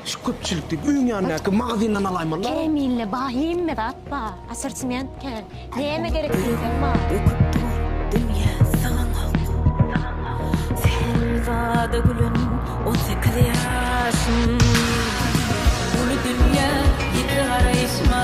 Şu köpçülikdeki öýüň ýanyndaky magazyndan alaýmaly dal. Kämille ba hemme zat ba. Assortiment kän. Näme gerek diýseň bar. Döküp dur dünýä syganok. Sehra-da gülen on sekiz ýaşym. Uly dünýä ýiti garaýyşma.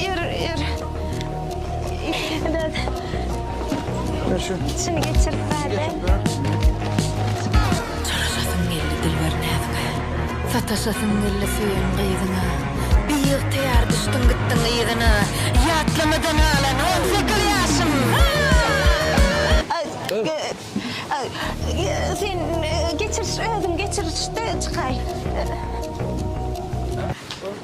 Ýör, ýör. Dad. Ber şu. Şuny geçirip ber-de. Çalaşasym geldi dilber näzike. Sataşasym geldi söýen gyzyňa. Biygtyýar düşdüň gitdiň yzyna. Ýatlamadan galan on sekiz ýaşym. Sen geçiriş özüň geçiriş-de çykaý.